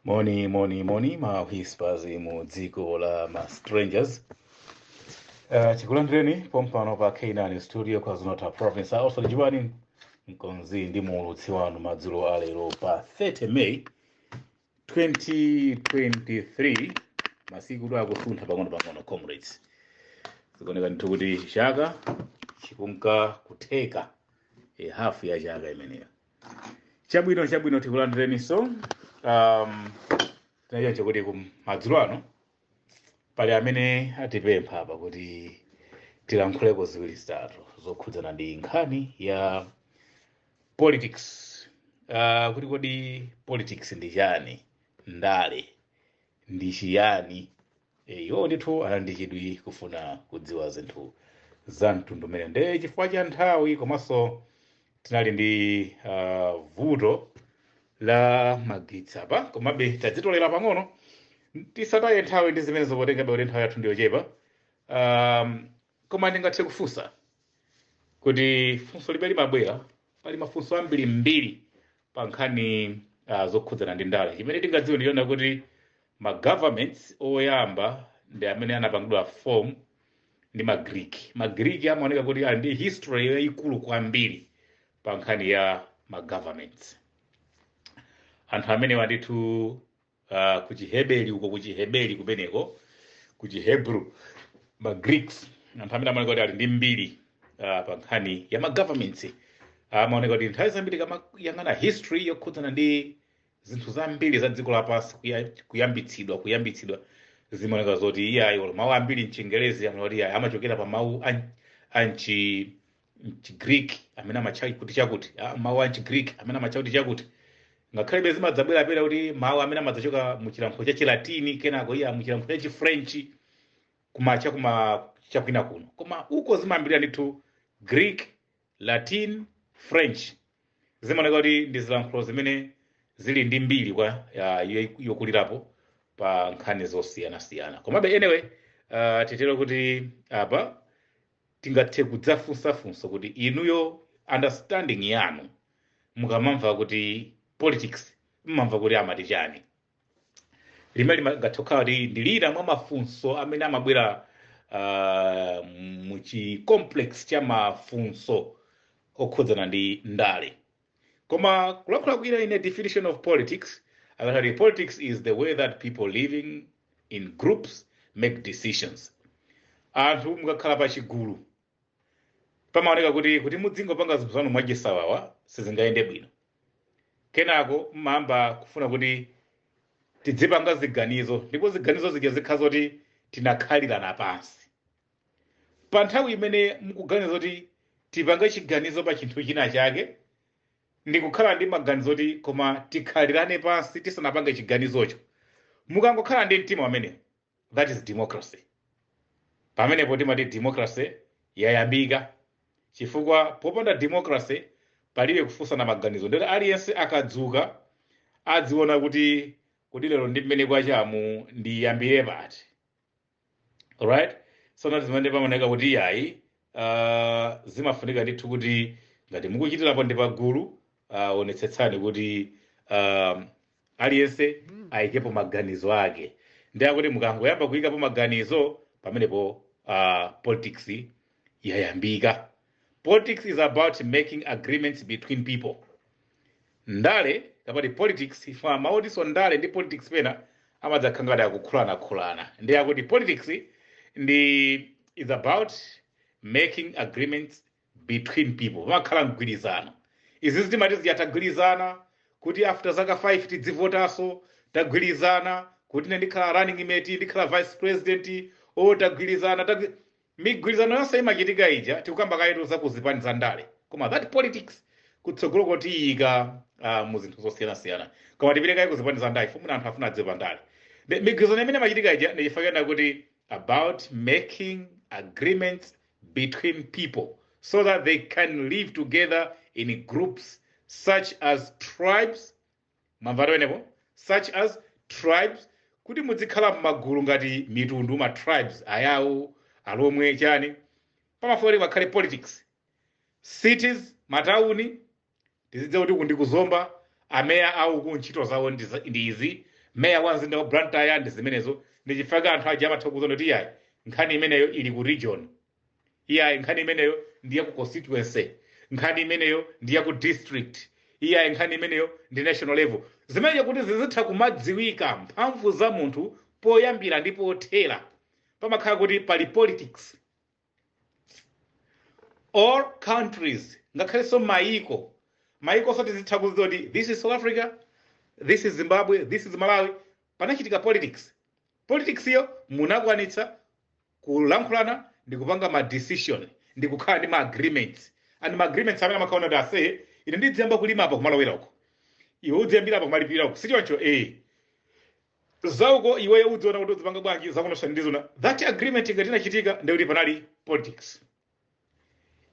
moni moni moni ma whispers mu dziko la ma strangers uh, chikulandireni pompano pa k9 studio KwaZulu-Natal province also lijiwani mkonzi ndi muulutsi wanu madzulo alero pa 30 may 2023 masikutu akusuntha pang'ono pang'ono comrades zikuoneka ndithu kuti chaka chikunka kutheka e hafu ya chaka imeneyo chabwino chabwino tikulandireniso um, tinachita chakuti kumadzulo ano pali amene atipempha apa kuti tilankhuleko ziwiri zitatu zokhudzana ndi nkhani ya politics uh, kuti kodi politics ndi chani ndale ndi chiyani Eh, iwo ndithu ali ndi chidwi kufuna kudziwa zinthu za mtundu umene nde chifukwa cha nthawi komanso tinali ndi ah, vuto la magetsi apa komabe tadzitolera pang'ono tisataye nthawi ndi zimenezo potengabe kuti nthawi yathu ndiyochepa um, koma ndingathe kufunsa kuti funso limene limabwera pali mafunso ambirimbiri pa nkhani uh, zokhudzana ndi ndale chimene tingadziwe ndichonena kuti ma governments oyamba ndi amene anapangidwa form ndi magriki magriki amaoneka kuti ali ndi history yayikulu kwambiri pa nkhani ya ma governments anthu amenewa ndithu uh, ku chiheberi uko ku chiheberi kumeneko ku chihebru ma greeks anthu amene amaoneka kuti ali ndi mbiri uh, pa nkhani ya ma governments amaoneka kuti nthawi zambiri ukamayang'ana history yokhudzana ndi zinthu zambiri za dziko lapansi kuya- kuyambitsidwa kuyambitsidwa zimaoneka zoti iyayi olo mawu ambiri mchingerezi amaona kuti iyayi amachokera pa mawu a- a mchi mchigreek amene amatcha kuti chakuti ah, mawu a mchigreek amene amatcha kuti chakuti ngakhalebe zimadzabwerabwera kuti mawu amene amadzachoka mu chilankhulo cha chilatini kenako iya mu chilankhulo cha chifrenchi kumacha kuma chakwina kuno koma uko zimayambirira ndithu greek latin french zimaoneka kuti ndi zilankhulo zimene zili ndi mbiri kwa ya- yo- yokulirapo pa nkhani zosiyanasiyana komabe anyway uh, titero kuti apa tingathe kudzafunsa funso kuti inuyo understanding yanu mukamamva kuti politics mmamva kuti amati chani limene limangathe kukhala kuti ndi lina mwa mafunso amene amabwera uh, muchi complex cha mafunso okhudzana ndi ndale Koma kulakhula kwina in a definition of politics akati politics is the way that people living in groups make decisions. Anthu mukakhala pa chigulu pamaoneka kuti kuti mudzingopanga zinthu zanu mwachisawawa sizingayende bwino. Kenako mmayamba kufuna kuti tidzipanga ziganizo ndipo ziganizo zija zikhala zoti tinakhalirana pansi. Pa nthawi imene mukuganiza kuti tipange chiganizo pa chinthu china chake, ndi kukhala ndi maganizo oti koma tikhalirane pansi tisanapange chiganizocho, mukangokhala ndi mtima umenewo, that is democracy. Pamenepo timati democracy yayambika, chifukwa popanda democracy palibe kufunsana maganizo, ndiyoti aliyense akadzuka adziona kuti kodi lero ndi mmene kwachamu, ndiyambire pati? alright so ndi zimene pamaoneka kuti iyayi uh, zimafunika ndithu kuti ngati mukuchitirapo ndi pagulu uh, onetsetsani kuti uh, aliyense ayikepo maganizo ake ndiye kuti mukangoyamba kuyikapo maganizo pamenepo uh, politics yayambika Politics is about making agreements between people. Ndale kapena politics chifukwa mawu otinso ndale ndi politics pena amadzakhala ngati akukhulana. Ndiye kuti politics ndi is about making agreements between people. Pamakhala mgwirizano. Izi zitimati zija tagwirizana kuti after zaka 5 tidzivotaso, tagwirizana kuti ine ndikhala running mate, ndikhala vice president, o tagwirizana, tagwi... Migwirizano yonse imachitika ija tikukamba kayetu za ku zipani za ndale koma that politics kutsogolo ko tiyika uh, mu zinthu zosiyanasiyana koma tipite kaye ku zipani za ndale chifukwa mwina anthu afuna adziwe pa ndale Ndi- migwirizano imene imachitika ija ndi chifukwa chonena kuti about making agreements between people so that they can live together in groups such as tribes Mwamvatu pamenepo? Such as, tribes, Kuti mudzikhala mmagulu ngati mitundu, ma tribes, Ayawo, Alomwe, chani. Pamafunika kuti pakhale politics. Cities, matauni, tizidziwa kuti uku ndi ku Zomba, a mayor a uku ntchito zawo ndi izi, mayor wa mzinda wa Blantyre ndi zimenezo. Ndi chifukwa chake anthu aja amatha kukuuza kuti yayi, nkhani imeneyo ili ku region. iyayi nkhani imeneyo ndi ya ku constituency nkhani imeneyo ndi ya ku district iyayi nkhani imeneyo ndi national level zimenezo kuti zizitha kumadziwika mphamvu za munthu poyambira ndi pothera pamakhala kuti pali politics or countries ngakhalenso mayiko mayiko oti zitha kudziwa kuti this is south africa this is zimbabwe this is malawi panachitika politics politics yo munakwanitsa kulankhulana ndi kupanga ma decision ndi kukhala ndi ma agreements and ma agreements amene amakhala onena kuti ase ine ndidziyamba kulima apa kumalowera uko iwe udziyambira apa kumalipira uko sichoncho eh zauko iweyo udziona kuti udzipanga bwanji zakunonso ndiziona that agreement ngati inachitika ndekuti panali politics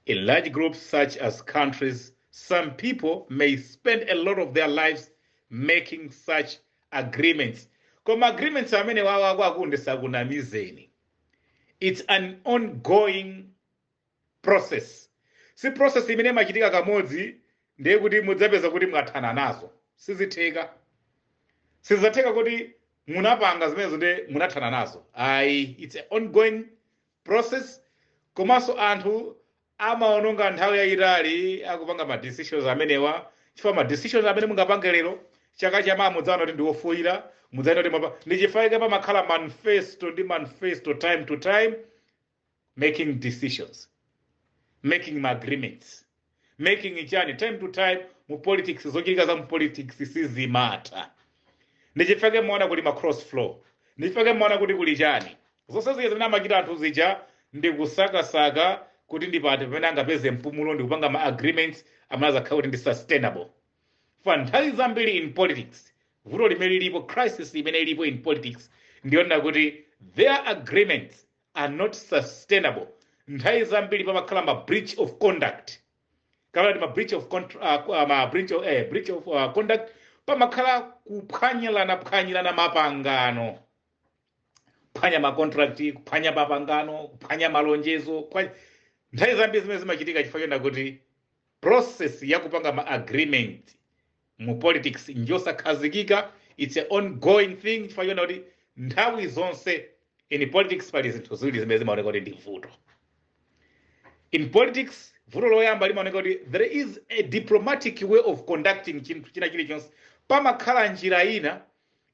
In large groups such as countries, some people may spend a lot of their lives making such agreements. Koma agreements amenewawa akwaku ndisakunamizeni. It's an ongoing process. Si process imene imachitika kamodzi ndiye kuti mudzapeza kuti mwathana nazo. Sizitheka. Sizatheka kuti munapanga zimenezo ndiye munathana nazo. Ayi, it's an ongoing process komanso anthu amaononga nthawi yayitali akupanga ma decisions amenewa chifukwa ma decisions amene mungapange lero chaka chamawa mudzaona kuti ndiwofoyira mudzaona kuti mwapa ndi chifukwa chake pamakhala manifesto ndi manifesto time to time making decisions making ma agreements making chani time to time mu politics zochitika za mu politics sizimatha ndi chifukwa chake mumaona kuli ma cross floor ndi chifukwa chake mumaona kuti kuli chani zonse zija zimene amachita anthu zija ndi kusakasaka kuti ndi pati pamene angapeze mpumulo ndi kupanga ma agreements amene azakhala kuti ndi sustainable for nthawi zambiri in politics vuto limene lilipo crisis imene ilipo in politics ndiyonena kuti their agreements are not sustainable nthawi zambiri pamakhala ma breach of conduct kapena kuti ma breach of contra, uh, uh, ma breach of, eh, breach of uh, conduct pamakhala kuphwanyirana phwanyirana mapangano kuphwanya ma contract kuphwanya mapangano kuphwanya malonjezo kuphwanya- nthawi zambiri zimenezi zimachitika chifukwa chonena kuti process ya kupanga ma agreement mu politics njosakhazikika it's an ongoing thing chifukwa chonena kuti nthawi zonse in politics pali zinthu ziwiri zimene zimaoneka kuti ndi vuto in politics vuto loyamba limaoneka kuti there is a diplomatic way of conducting chinthu china chilichonse pamakhala njira ina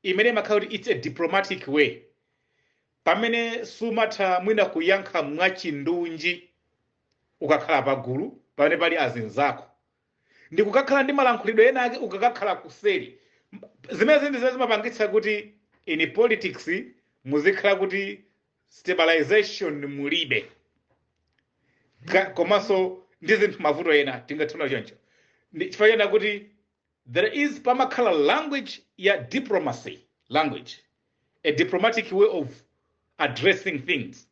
imene imakhala kuti it's a diplomatic way pamene sumatha mwina kuyankha mwachindunji ukakhala pagulu pamene pali azinzako ndi kukakhala ndi malankhulidwe ena ake ukakakhala kuseri zimenezi ndi zimene zimapangitsa kuti in politics muzikhala kuti stabilization mulibe Ka- komanso ndi zinthu mavuto ena tingatchula choncho Ndi chifukwa chonena kuti there is pamakhala language ya diplomacy language a diplomatic way of addressing things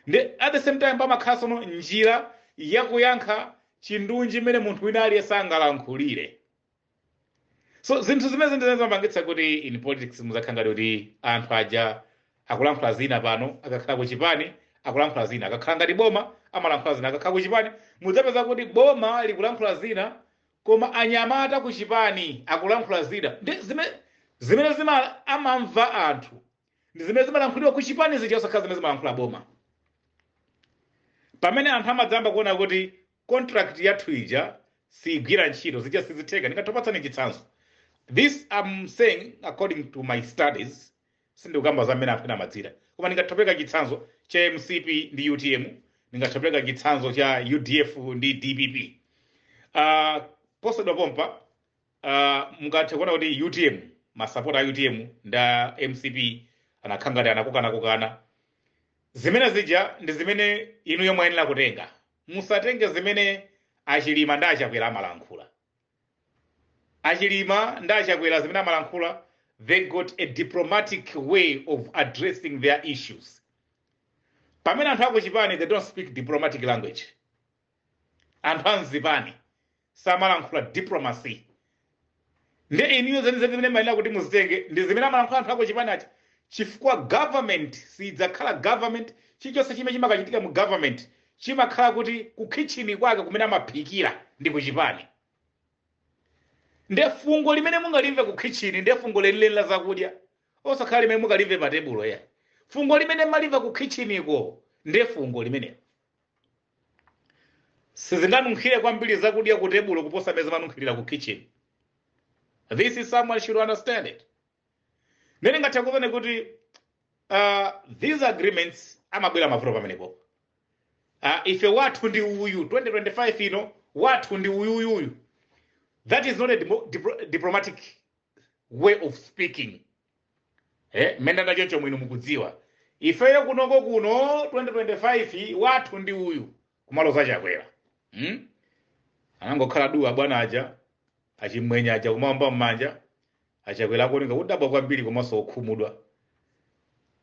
Nde at the same time pamakhala sono njira yakuyankha chindunji mmene munthu wina aliyense angalankhulire. So zinthu zimenezi ndi zimene zimapangitsa kuti in politics muzakhala ngati kuti anthu aja akulankhula zina pano akakhala ku chipani akulankhula zina akakhala ngati boma amalankhula zina akakhala ku chipani mudzapeza kuti boma likulankhula zina koma anyamata ku chipani akulankhula zina zimene zima amamva anthu ndi zimene zimalankhulidwa ku chipani zija osakhala zimene zimalankhula boma pamene anthu amadzamba kuona kuti contract yathu ija siigwira ntchito zija sizitheka ndingatopatsani chitsanzo this am saying according to my studies sindikukamba za mmene anthu ena amadzira koma ndingatopereka chitsanzo cha mcp ndi utm ndingatopereka chitsanzo cha udf ndi dpp uh, posedwa pompa Ah, mungathe kuona kuti utm masapota a utm ndi a mcp anakhala ngati akukanakukana zimene zija ndi zimene inu yo mwayenera kutenga musatenge zimene achilima ndi achakwera amalankhula achilima ndi achakwera zimene amalankhula they got a diplomatic way of addressing their issues pamene anthu akuchipani they don't speak diplomatic language anthu amzipani samalankhula diplomacy nde inuyo zenizeni zimene mumayenera kuti muzitenge ndi zimene amalankhula anthu akuchipani aja chifukwa government siyidzakhala government chilichonse chimene chimakachitika mu government chimakhala kuti ku kitchen kwake kumene amaphikira ndi ku chipani nde fungo limene mungalimve ku kitchen nde fungo lenileni la zakudya osakhala limene mungalimve pa tebulo ya fungo limene mumalimva ku kitchen ko nde fungo limenelo sizingadanunkhire kwambiri zakudya ku tebulo kuposa mmene zimanunkhirira ku kitchen this is someone should understand it nde ningathe kuuzani kuti uh, these agreements amabwera mavuto pamenepo uh, ife wathu ndi uyu 2025 ino wathu ndi uyuyuyu that is not a dimo- diplo- diplomatic way of speaking eh mmene nda choncho mwino mukudziwa ifeyo kunoko kuno 2025 wathu ndi uyu kumaloza achakwera hmm? anangokhala duu abwana aja achimwenye aja kumawomba mmanja achakwera akuoneka kudabwa kwambiri komanso okhumudwa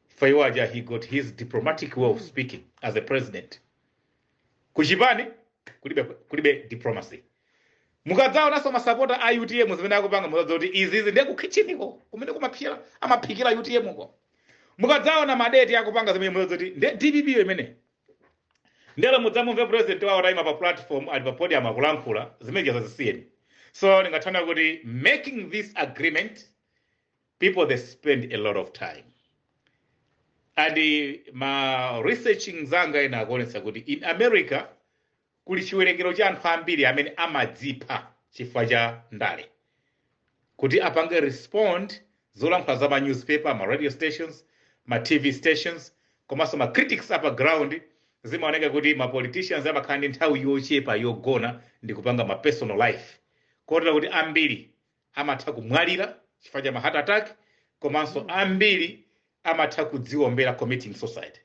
ifeyo aja he got his diplomatic way of speaking as a president kuchipani kulibe diplomacy mukadzaonanso masapota a utm zimene akupanga muzadziwa kuti izizi ndiye kukhitchiniko kumene kumaphikira amaphikira utm ko mukadzaona macadet akupanga zimene muzadziwa kuti ndiye dpp yo imeneyo nde olo mudzamumve president wawo ataima pa platform ali pa podium akulankhula zimene zija zisiyeni so ndingathana kuti making this agreement people they spend a lot of time and eh, ma researching anzanga ena akuonetsa kuti in america kuli chiwerengero cha anthu ambiri amene amadzipha chifukwa cha ndale kuti apange respond zolankhula za ma newspaper ma radio stations ma tv stations komanso ma critics apa ground zimaoneka kuti ma politicians amakhala ndi nthawi yochepa yogona ndi kupanga ma personal life kotera kuti ambiri amatha kumwalira chifukwa cha ma heart attack komanso ambiri amatha kudziwombera committing suicide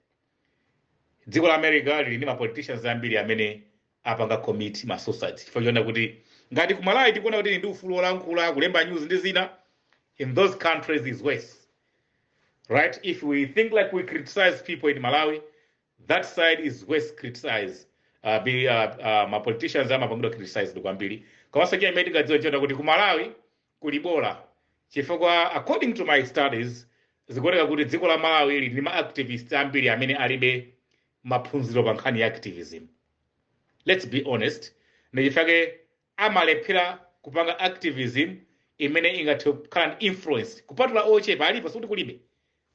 dziko la america lili ndi ma politicians ambiri amene apanga commit ma suicide chifukwa choona kuti ngati ku malawi tikuona kuti tili ndi ufulu wolankhula kulemba news ndi zina in those countries is worse right if we think like we criticize people in malawi that side is worse criticize uh, be, uh, uh, ma politicians amapangidwa criticized kwambiri komanso china chimene tingadziwe nchonena kuti ku malawi kuli bola chifukwa according to my studies zikuoneka kuti dziko la malawi lili ndi ma activists ambiri amene alibe maphunziro pa nkhani ya activism let's be honest ndichifukwa chake amalephera kupanga activism imene ingathe kukhala ndi influence kupatula ochepa alipo sikuti kulibe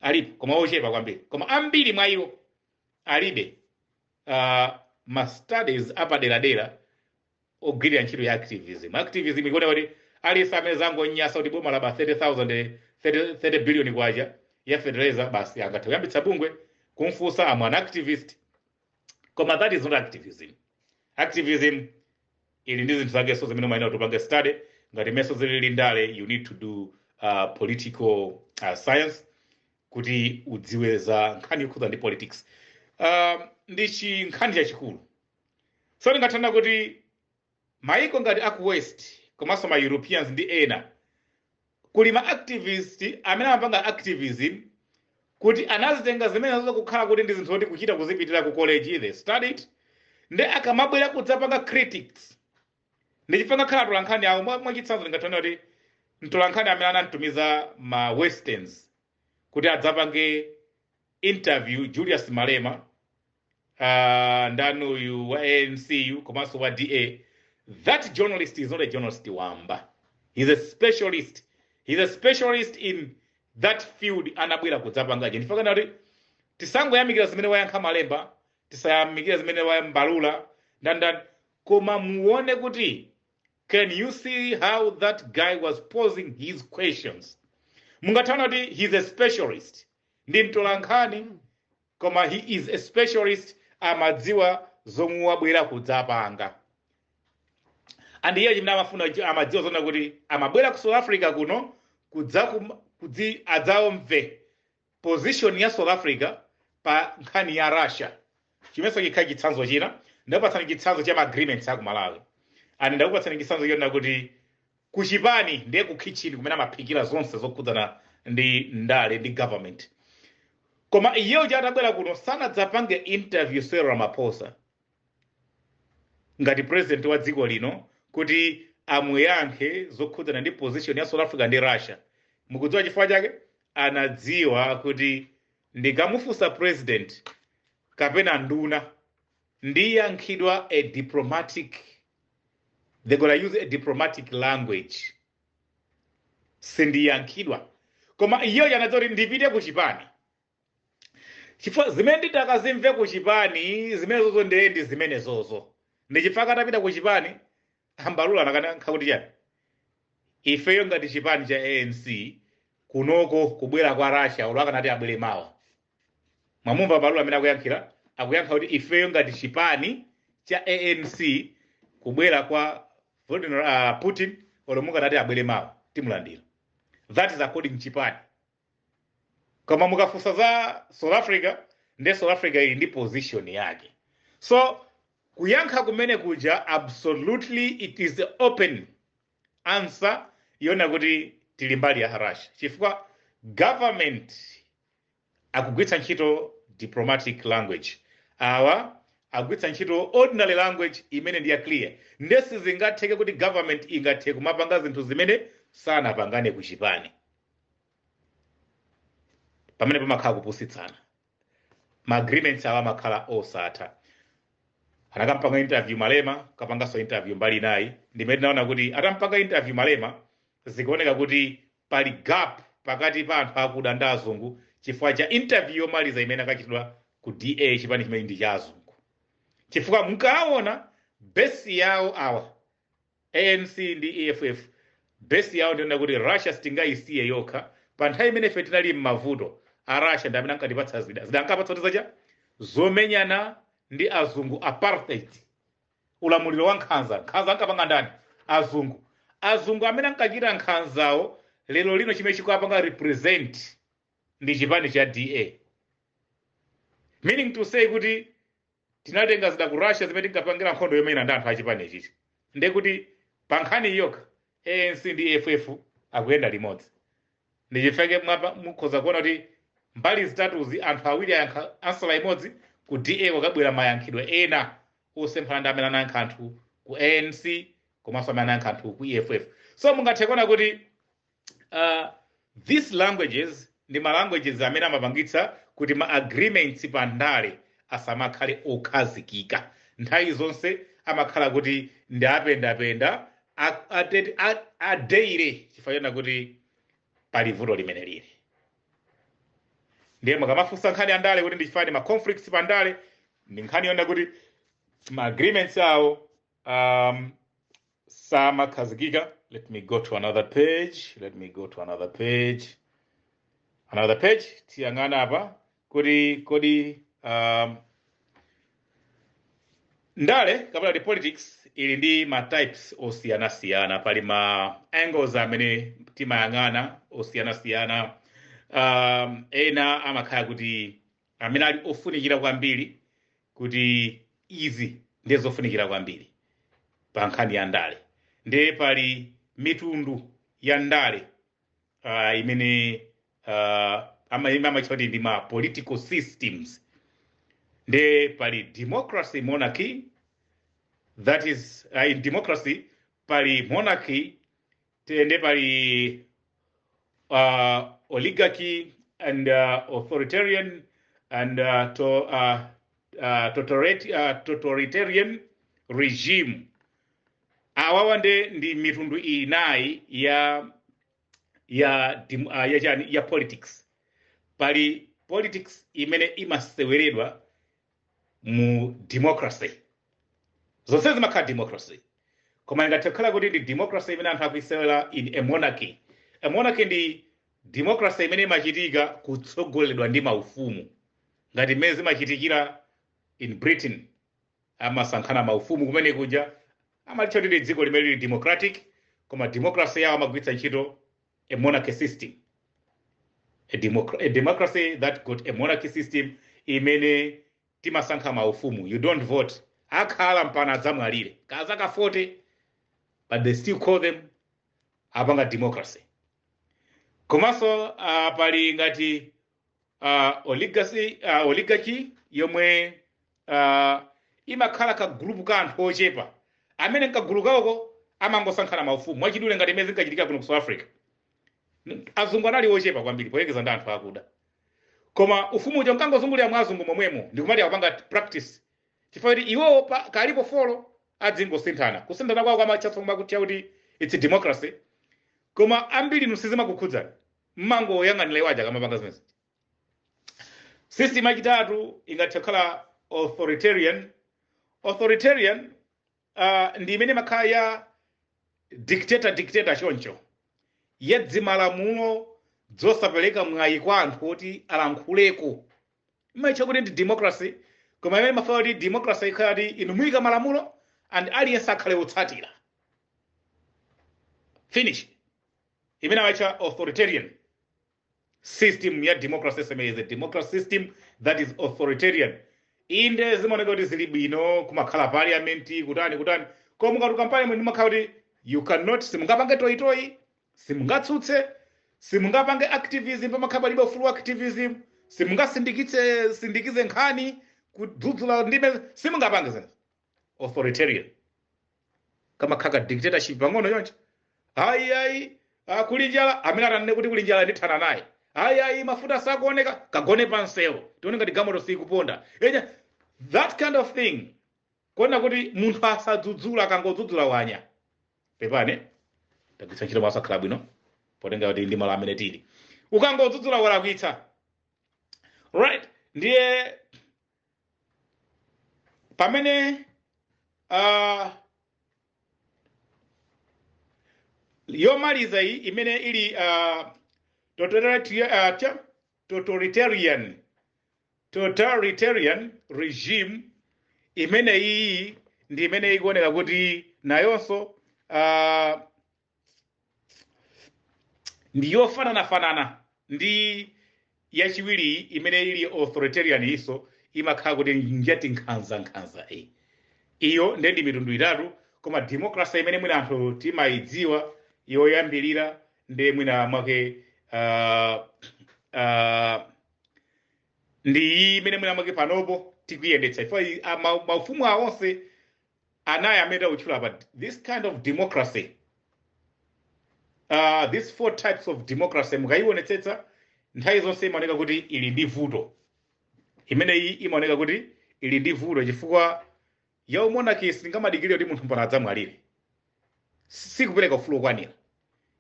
alipo koma ochepa kwambiri koma ambiri mwa iwo alibe uh, ma studies apaderadera ogwirira ntchito ya activism activism ikuoneka kuti aliyense amene zangomunyasa kuti boma laba 30 billion kwacha ya fertilizer basi angathe kuyambitsa bungwe kumfunsa i am an activist koma that is not activism activism ili ndi zinthu zakenso zimene umayenera kuti upange study ngati mmenenso zilili ndale you need to do uh, political uh, science kuti udziwe za nkhani yokhudza ndi politics uh, ndi chinkhani chachikulu so ndingathe kunena kuti maiko ngati aku west komanso ma europeans ndi ena Kuli ma activist amene amapanga activism kuti anazitenga zimenezo kukhala kuti ndi zinthu zoti kuchita kuzipitira ku college, they studied, nde akamabwera kudzapanga critics, ndi chifukwa ngakhale atolankhani awo, mwa- mwachitsanzo ndingathe kunena kuti mtolankhani amene anamtumiza ma westerns kuti adzapange interview julius malema uh, ndani uyu wa anc yu komanso wa da that journalist is not a journalist wamba he's a specialist he's a specialist in that field anabwera kudzapanga nde ndikufuna kunena kuti tisangoyamikira zimene wayankha malema tisayamikira zimene wa mbalula ndani ndani koma muone kuti can you see how that guy was posing his questions mungathe kuona kuti he's a specialist Ndi mtolankhani koma he is a specialist amadziwa zomwe wabwera kudzapanga and iye chimene amafuna chi- amadziwa zonena kuti amabwera ku South Africa kuno kudzakum- kudzi adzaomve position ya South Africa pa nkhani ya Russia chimenso chikhala chitsanzo china ndakupatsani chitsanzo cha ma agreements aku Malawi and ndakupatsani chitsanzo chonena kuti Ku chipani ndiye ku kitchen kumene amaphikira zonse zokhudzana ndi ndale ndi government. Koma iye uja atabwera kuno sanadzapange interview Cyril Ramaphosa ngati president wa dziko lino kuti amuyankhe zokhudzana ndi position ya South Africa ndi Russia. Mukudziwa chifukwa chake? Anadziwa kuti ndikamufunsa president kapena nduna ndiyankhidwa a diplomatic they're gonna use a diplomatic language sindiyankhidwa koma iye anadziwa kuti ndipite ku chipani chifukwa zimene nditakazimve ku chipani zimenezozo ndiye ndi zimenezozo ndi chifukwa atapita ku chipani a Mbalula anakayankha kuti chani ifeyo ngati chipani cha anc kunoko kubwera kwa russia olo akanati abwere mawa mwamumva Mbalula amene akuyankhira akuyankha kuti ifeyo ngati chipani cha anc kubwera kwa Vladimir, uh, putin olo mukanati abwere mawa timulandira that is according chipani koma mukafunsa za south africa nde south africa ili ndi position yake so kuyankha kumene kuja absolutely it is the open answer yonena kuti tili mbali ya russia chifukwa government akugwitsa ntchito diplomatic language awa akugwitsa ntchito ordinary language imene ndi ya clear nde sizingatheke kuti government ingathe kumapanga zinthu zimene sanapangane ku chipani pamene pamakhala kupusitsana ma agreements awo amakhala osatha anakampanga interview malema kukapanganso interview mbali inayi ndimene tinaona kuti atampanga interview malema zikuoneka kuti Pali gap pakati pa anthu akuda ndi azungu chifukwa cha interview yomaliza imene akachitidwa ku DA chipani chimene ndi cha azungu. Chifukwa mukaona base yawo awa ANC ndi EFF base yawo ndi yonena kuti Russia sitingayisiye yokha pa nthawi imene ife tinali m'mavuto a Russia ndi amene ankatipatsa zida zida ankapatsa kuti zacha zomenyana ndi azungu apartheid ulamuliro wa nkhanza. Nkhanza ankapanga ndani? Azungu. Azungu amene ankachita nkhanzawo lero lino chimene chikuwapanga represent ndi chipani cha DA. Meaning to say kuti tinatenga zida ku Russia zimene tinkapangira nkhondo yomenyana ndi anthu achipani ichichi. Ndiye kuti pa nkhani iyi yokha ANC ndi EFF akuyenda limodzi. Ndi chifukwa chake mukhoza kuona kuti mbali zitatuzi anthu awiri ansala imodzi, ku DA kwakabwera mayankhidwe ena osemphana ndi amene anayankha anthu ku ANC komanso amene anayankha anthu ku EFF. So mungathe kuona kuti uh, these languages ndi ma languages amene amapangitsa kuti ma agreements pa ndale asamakhale okhazikika nthawi zonse amakhala kuti ndi apendapenda adeire chifukwa chona kuti pali vuto limene lili ndiye mukamafunsa nkhani ya ndale kuti ndichifani ma conflicts pa ndale ndi nkhani yona kuti ma agreements awo um, samakhazikika let me go to another page let me go to another page another page tiyang'ana apa kuti kodi um, ndale kapena kuti politics ili ndi ma types osiyanasiyana pali ma angles amene timayang'ana osiyanasiyana um, ena amakhala kuti amene ali ofunikira kwambiri kuti izi ndiye zofunikira kwambiri pa nkhani ya ndale ndiye pali mitundu ya ndale uh, imene uh, amatcha kuti ndi ma political systems ndiye pali democracy monarchy that is uh, in democracy pali monarchy ndiye pali uh, oligarchy and uh, authoritarian and uh, to, uh, uh, totality, uh, totalitarian regime awawa nde ndi mitundu inayi ya ya dim- ah, ya chani ya politics pali politics imene imaseweredwa mu democracy zonse zimakhala democracy koma ingathe kukhala kuti ndi democracy imene anthu akuisewera in a monarchy a monarchy ndi democracy imene imachitika kutsogoleredwa ndi maufumu ngati mmene zimachitikira in britain amasankhana maufumu kumene kuja amalitcha kuti ndi dziko limene lili democratic koma democracy yawo amagwiritsa ntchito a monarchy system a, democra a democracy that got a monarchy system imene timasankha maufumu you don't vote akhala mpana adzamwalire kazaka 40 but they still call them apanga democracy komanso uh, pali ngati uh, oligarchy, uh, oligarchy yomwe uh, imakhala ka group ka anthu ochepa amene nkagulu kawoko amangosankhana maufumu mwachidule ngati imene zinkachitika kuno ku south africa N- azungu anali ochepa kwambiri poyerekeza ndi anthu akuda koma ufumu uja unkangozungulira mwa azungu momwemo ndikumati akupanga practice chifukwa kuti iwowo pa- kalipo folo adzingosinthana kusinthana kwawo kwamatchatso kumati kuti its democracy koma ambiri inu sizimakukhudzani mmangoyang'anira iwo aja akamapanga zimene zija system yachitatu ingathe kukhala authoritarian authoritarian uh, ndi imene imakhala ya dictator dictator choncho yadzimalamulo dzosapereka mwayi kwa anthu oti alankhuleko imaitcha kuti ndi democracy koma imene mafuna kuti democracy ikhala kuti inu muika malamulo and aliyense akhale otsatira finish imene amaitcha authoritarian system ya democracy sma is a democracy system that is authoritarian inde zimaoneka kuti zili bwino kumakhala parliament kutani kutani koma mukatuluka parliament mumakhala kuti you cannot simungapange toyitoyi simungatsutse simungapange activism pamakhala palibe ufulu wa activism simungasindikitse sindikize nkhani kudzudzula ndime simungapange zinthu authoritarian kamakhala ka dictatorship pang'ono choncho ayi ayi ah, kuli njala amene atanene kuti kuli njala ndithana naye ayi ayi mafuta sakuoneka kagone pansewo tione ngati galimoto sikuponda enya that kind of thing kunena kuti munthu asadzudzule akangodzudzula wanya pepani tagwiritsa ntchito mawu osakhala bwino potengera kuti ndi malo amene tili ukangodzudzula walakwitsa right ndiye pamene uh, yomaliza iyi imene ili uh, totalitarian, uh, cha- totalitarian totalitarian regime imene iyi ndi imene ikuoneka kuti nayonso uh, ndi yofananafanana ndi yachiwiri imene ili authoritarian iyonso imakhala kuti njati nkhanzankhanza e iyo nde ndi mitundu itatu koma democracy imene mwina anthu timayidziwa yoyambirira ndi mwina mwake uh, uh, ndi iyi imene mwina mwake panopo tikuyendetsa chifukwa iyi- a- ma- maufumu awo onse anayi amene takutchula apa this kind of democracy uh, these four types of democracy mukayionetsetsa nthawi zonse imaoneka kuti ili ndi vuto imeneyi imaoneka kuti ili ndi vuto chifukwa ya umonarchy singamadikirire kuti munthu mpaka adzamwalire sikupereka ufulu wokwanira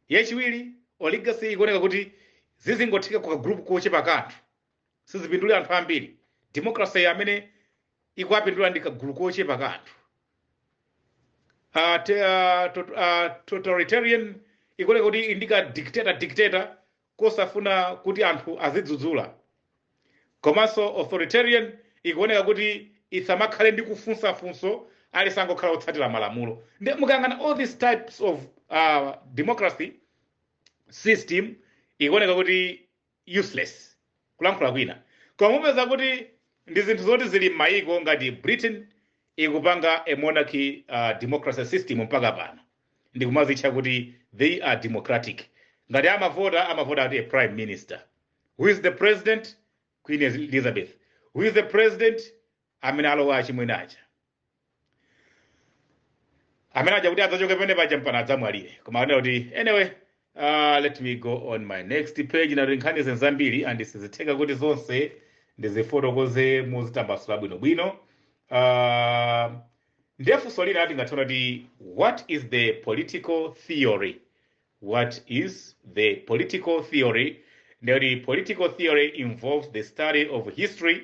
yachiwiri oligarchy ikuoneka kuti zizingotheka kwa group kochepa ka anthu sizipindulira anthu ambiri democracy iyi amene ikuwapindula ndi kagulu kochepa ka anthu Ah, te- ah, tot- ah, totalitarian ikuoneka kuti ndi ka dictator dictator kosafuna kuti anthu azidzudzula komanso authoritarian ikuoneka kuti isamakhale ndi kufunsafunso azingokhala otsatira malamulo nde mukayang'ana all these types of uh, democracy system ikuoneka kuti useless kulankhula kwina koma mupeza kuti ndi zinthu zoti zili m'mayiko ngati britain ikupanga a monarchy uh, democracy system mpaka pano ndikumadzitcha kuti they are democratic ngati amavota amavota ati a prime minister who is the president queen elizabeth who is the president amene alowa achimwene aja amene aja kuti adzachoke pamene paja mpana adzamwalire koma ndinene kuti anyway uh, let me go on my next page nati nkhani zambiri and sizitheka kuti zonse ndizifotokoze muzitambasula bwinobwino uh, ndiye funso lina tingathe kuti what is the political theory what is the political theory ndiye kuti political theory involves the study of history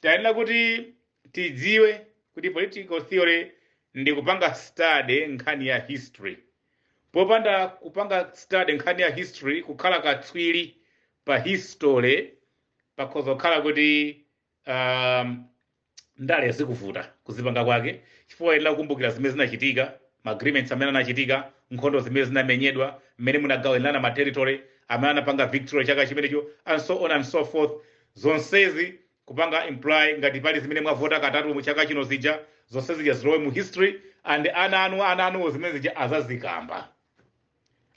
tiyenera kuti tidziwe kuti political theory ndi kupanga study nkhani ya history popanda kupanga study nkhani ya history kukhala katswiri pa history pakhoza kukhala kuti um, ndale zikuvuta kuzipanga kwake chifukwa uyenera kukumbukira zimene zinachitika ma agreements amene anachitika nkhondo zimene zinamenyedwa mmene munagawanirana ma territory amene anapanga victory chaka chimenecho and so on and so forth zonsezi kupanga imply ngati pali zimene mwavota katatu mu chaka chino zija zonse zija zilowe mu history and ana anu ana anuwo zimene zija adzazikamba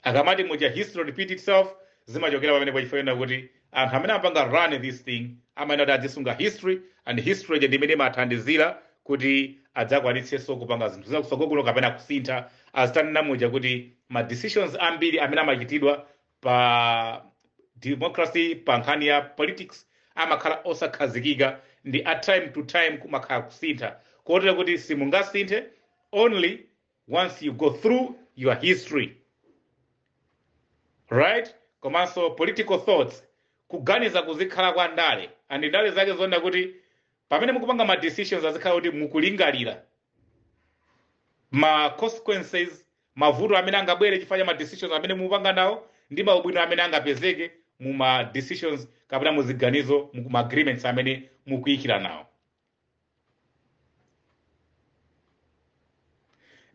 akamati muja history repeat itself zimachokera pamene paja chifukwa chonena kuti anthu amene amapanga run this thing amayenera kuti azisunga history and history ija ndi imene imathandizira kuti adzakwanitsenso kupanga zinthu zakutsogolo kuno kapena kusintha ndi zimene tanena muja kuti ma decisions ambiri amene amachitidwa pa democracy pa nkhani ya politics amakhala osakhazikika ndi a time to time kumakhala kusintha kotero kuti simungasinthe only once you go through your history right komanso political thoughts kuganiza kuzikhala kwa ndale and ndale zake zoona kuti pamene mukupanga ma decisions azikhala kuti mukulingalira ma consequences mavuto amene angabwere chifukwa cha ma decisions amene mukupanga nawo ndi maubwino amene angapezeke mu ma decisions kapena mu ziganizo mu ma agreements amene mukuchitira nawo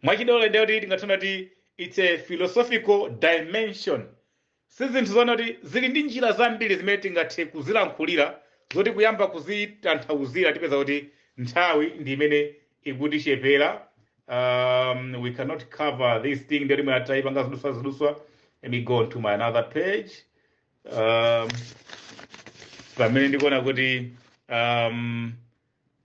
mwachidule ndiye kuti tingathe kuona kuti it's a philosophical dimension Si zinthu zoona kuti zili ndi njira zambiri zimene tingathe kuzilankhulira zoti kuyamba kuzitanthauzira tipeza kuti nthawi ndi imene ikutichepera. Um, we cannot cover this thing ndiye kuti mwina titayipanga ziduswa ziduswa. Let me go on to my another page. Um, pamene ndikuona kuti um,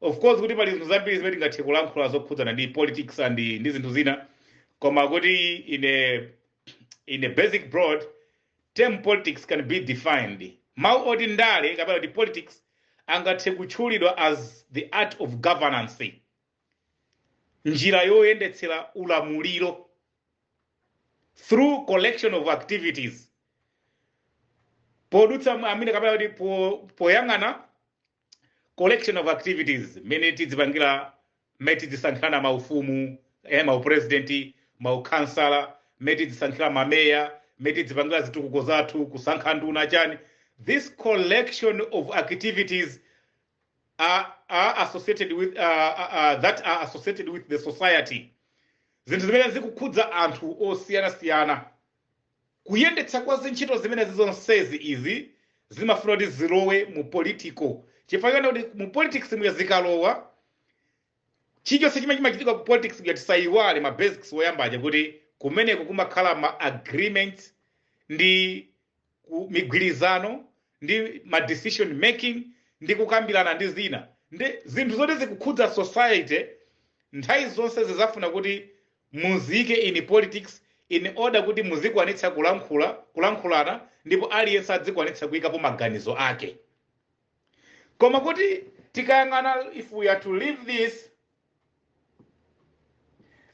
Of course kuti pali zinthu zambiri zimene tingathe kulankhula zokhudzana ndi politics and ndi zinthu zina koma kuti in a, in a basic broad term politics can be defined mawu oti ndale kapena kuti politics angathe kutchulidwa as the art of governance njira yoyendetsera ulamuliro through collection of activities podutsa mu- amene kapena kuti po- poyang'ana collection of activities mmene tidzipangira mmene tidzisankhirana maufumu eh, maupresidenti maukhansala mmene tidzisankhira mameya mmene tidzipangira zitukuko zathu kusankha nduna chani this collection of activities are, are associated with uh, uh, uh, that are associated with the society zinthu zimene zikukhudza anthu osiyanasiyana Kuyendetsa kwa zintchito zimenezi zonsezi izi zimafuna kuti zilowe mu political chifukwa choona kuti mu politics muja zikalowa chilichonse chimene chimachitika ku politics kuja tisayiwale ma basics woyamba aja kuti kumeneko kumakhala ma agreements ndi ku- migwirizano ndi ma decision making ndi kukambirana ndi zina ndi zinthu zoti zikukhudza society nthawi zonse zizafuna kuti Muziike in politics in order kuti muzikwanitsa kulankhula, kulankhulana ndipo aliyense adzikwanitsa kuikapo maganizo ake. Koma kuti tikayang'ana if we are to leave this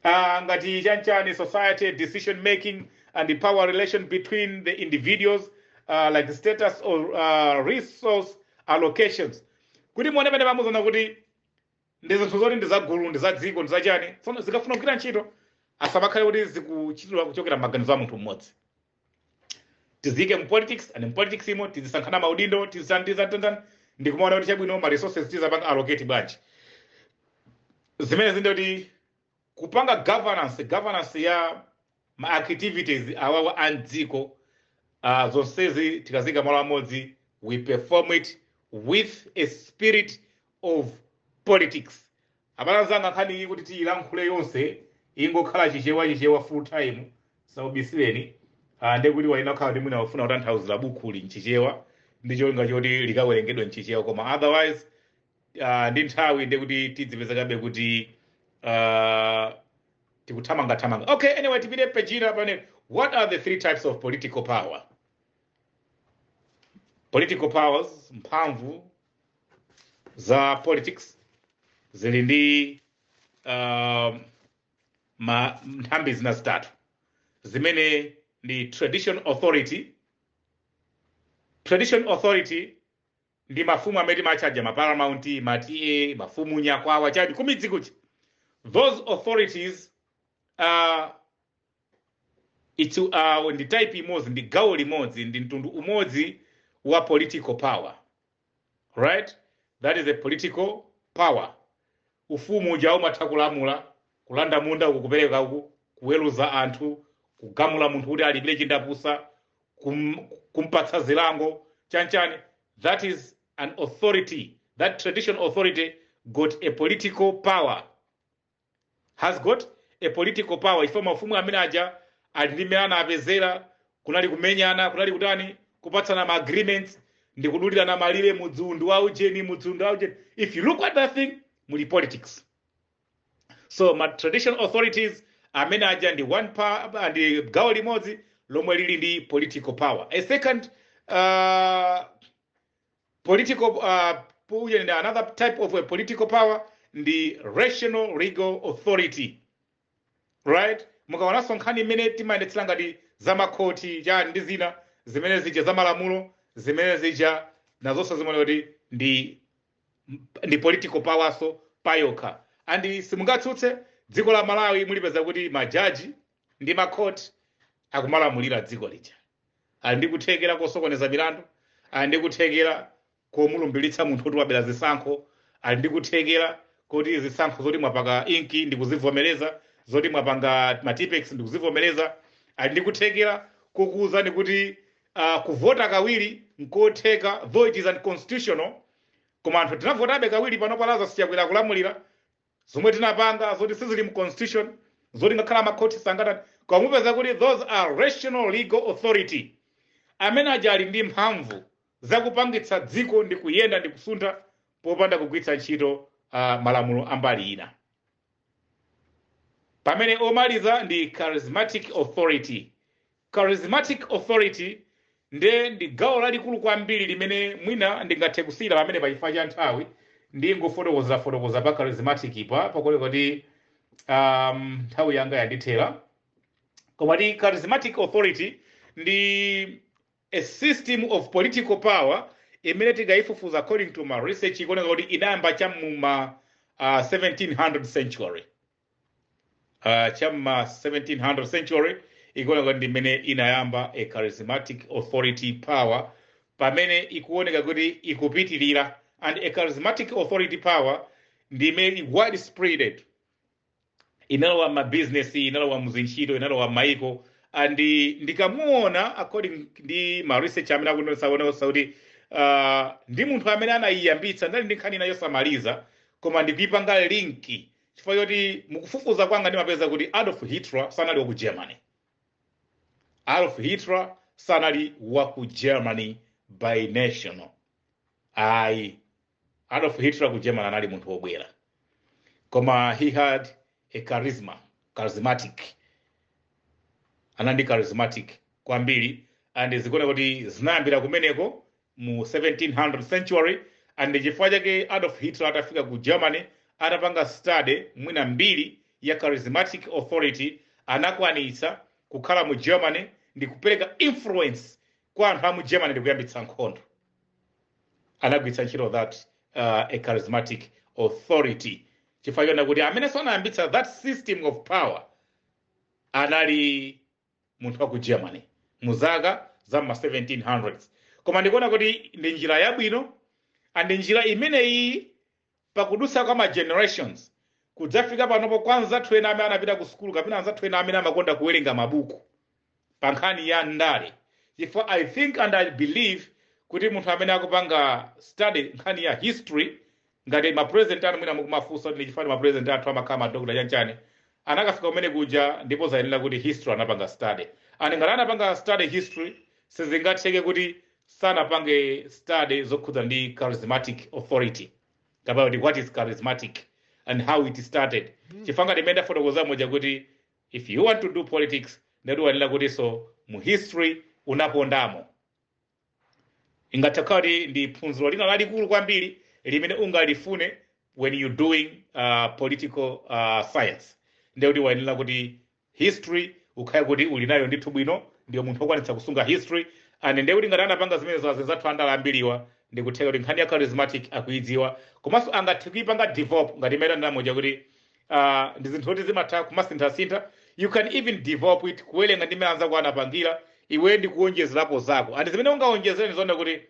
uh, ngati chanchani society decision making and the power relation between the individuals uh, like status or uh, resource allocations kuti muone pamene pamuziona kuti ndi zinthu zoti ndi zagulu ndi za dziko ndi zachani tsono zikafuna kugwira ntchito asamakhale kuti zikuchitidwa kuchokera m'maganizo a munthu mmodzi tiziyike mu politics and mu politics imo tizisankhana maudindo tizitanitizitani ndi kumaona kuti chabwino ma resources tizapanga allocate bwanji zimene zili ndiye kuti Kupanga governance, governance ya ma activities awawa a m'dziko, ah, zonsezi tikaziika malo amodzi, we perform it with a spirit of politics. Abale anzanga, nkhani iyi kuti tiilankhule yonse, ingokhala Chichewa, Chichewa full time, zisakubisireni. Ah, ndiye kuti wayenera kukhala kuti mwina wafuna kutanthauzira bukhuli m'Chichewa, ndi cholinga choti likawerengedwe m'Chichewa, koma otherwise, uh, ndi nthawi ndiye kuti tidzipezekabe kuti uh, tikuthamangathamanga okay anyway tipite peji inayo pane what are the three types of political power political powers mphamvu za politics zili ndi uh, ma nthambi zina zitatu zimene ndi tradition authority tradition authority ndi mafumu amene timawatcha aja ma paramount ma TA mafumu nyakwawa chani kumidzi kuja those authorities uh, it's, uh, ndi type imodzi ndi gawo limodzi ndi mtundu umodzi wa political power right that is a political power Ufumu uja umatha kulamula, kulanda munda uku kupereka uku, kuweruza anthu, kugamula munthu kuti alipire chindapusa, kum, kumpatsa zilango chanchani. That is an authority. That traditional authority got a political power. Has got a political power. Ifenso mafumu amene aja ali ndi mmene anapezera Kunali kumenyana, kunali kutani, kupatsana ma agreements, ndi kudulirana malire, mudzi uwu ndi wa ujeni, mudzi uwu ndi wa ujeni. If you look at that thing, muli politics. So ma traditional authorities amene aja ndi one pa ndi gawo limodzi lomwe lili ndi political power. A second uh, political uh, ujeni ndi another type of a political power ndi rational legal authority. right mukaonanso nkhani imene timayendetsera ngati za makhoti chani ndi zina zimene zija za malamulo zimene zija nazonso zimakhala kuti ndi ndi political powerso payokha and simungatsutse dziko la malawi mulipeza kuti majaji ndi makhoti akumalamulira dziko lija ali ndi kuthekera kosokoneza milandu ali ndi kuthekera komulumbilitsa munthu oti wabera zisankho ali ndi kuthekera koti zisankho zoti mwapanga inki ndi kuzivomereza zoti mwapanga matipex ndi kuzivomereza ali ndi kuthekera kokuwuzani kuti uh, kuvota kawiri nkotheka though it is unconstitutional koma anthu tinavotabe kawiri pano pa Lazarus Chakwera akulamulira zomwe tinapanga zoti sizili mu constitution zoti ngakhale amakhoti sangatani koma mupeza kuti those are rational legal authority amene aja ali ndi mphamvu za kupangitsa dziko ndi kuyenda ndi kusuntha popanda kugwiritsa ntchito malamulo a mbali ina. Pamene omaliza ndi charismatic authority. Charismatic authority nde ndi gawo lalikulu kwambiri limene mwina ndingathe kusiyira pamenepa chifukwa cha nthawi ndingofotokoza fotokoza pa charismatic pakuti um, nthawi yanga yandithera koma ndi charismatic authority ndi A system of political power imene tikaifufuza according to ma research ikuoneka kuti inayamba cha mu ma uh, 1700 century uh, cha mu ma 1700 century ikuoneka kuti ndi imene inayamba a charismatic authority power pamene ikuoneka kuti ikupitirira and a charismatic authority power ndi imene ili widespreaded inalowa ma business inalowa muzintchito inalowa m'maiko and ndikamuona according ndi ma research amene akuonetsaonetsa kuti uh, ndi munthu amene anayiyambitsa ndili ndi nkhani ina yosamaliza koma ndikuipanga link chifukwa choti mukufufuza kwanga ndimapeza kuti adolf hitler sanali wa ku germany adolf hitler sanali wa ku germany by national ayi Adolf Hitler ku Germany anali munthu wobwera koma he had a charisma charismatic anali ndi charismatic kwambiri and zikuoneka kuti zinayambira kumeneko mu 1700 century and chifukwa chake Adolf Hitler atafika ku Germany atapanga study mwina mbiri ya charismatic authority anakwanitsa kukhala mu Germany ndi kupereka influence kwa anthu a mu Germany ndi kuyambitsa nkhondo anagwiritsa ntchito that uh, a charismatic authority chifukwa chonena kuti amenenso anayambitsa that system of power anali munthu wa ku germany mu zaka za ma 1700s koma ndikuona kuti ndi njira yabwino and njira imeneyi Pakudutsa kwa ma generations, kudzafika panopo kwa anzathu ena amene anapita ku sukulu kapena anzathu ena amene amakonda kuwerenga mabuku pa nkhani ya ndale, chifukwa I think and I believe kuti munthu amene akupanga study nkhani ya history, ngati ma president athu mwina mukumafunsa kuti ndi chifukwa ma president athu amakhala ma doctor chani chani, anakafika kumene kuja ndipo zayenera kuti history anapanga study. And ngati anapanga study history, sizingatheke kuti sanapange study zokhudza ndi charismatic authority kapena kuti what is charismatic and how it started chifukwa ngati imene ndafotokoza moja kuti if you want to do politics ndekuti wayenera kutinso mu history unakondamo ingatha kukhala kuti ndi phunziro lina lalikulu kwambiri limene ungalifune when you doing uh, political uh, science ndekuti wayenera kuti history ukhale kuti uli nayo ndithu bwino ndiwe munthu wokwanitsa kusunga history and ndiye kuti ngati anapanga zimenezo azinzathu andala ambiriwa ndikutheka kuti nkhani ya charismatic akuidziwa komanso angathe kuipanga develop ngati imene ndanena moja kuti uh, ndi zinthu zoti zimatha kumasinthasintha you can even develop it kuwerenga ndi mmene anzako anapangira iwe ndi kuonjezerapo zako and zimene ungaonjezere ndikuona kuti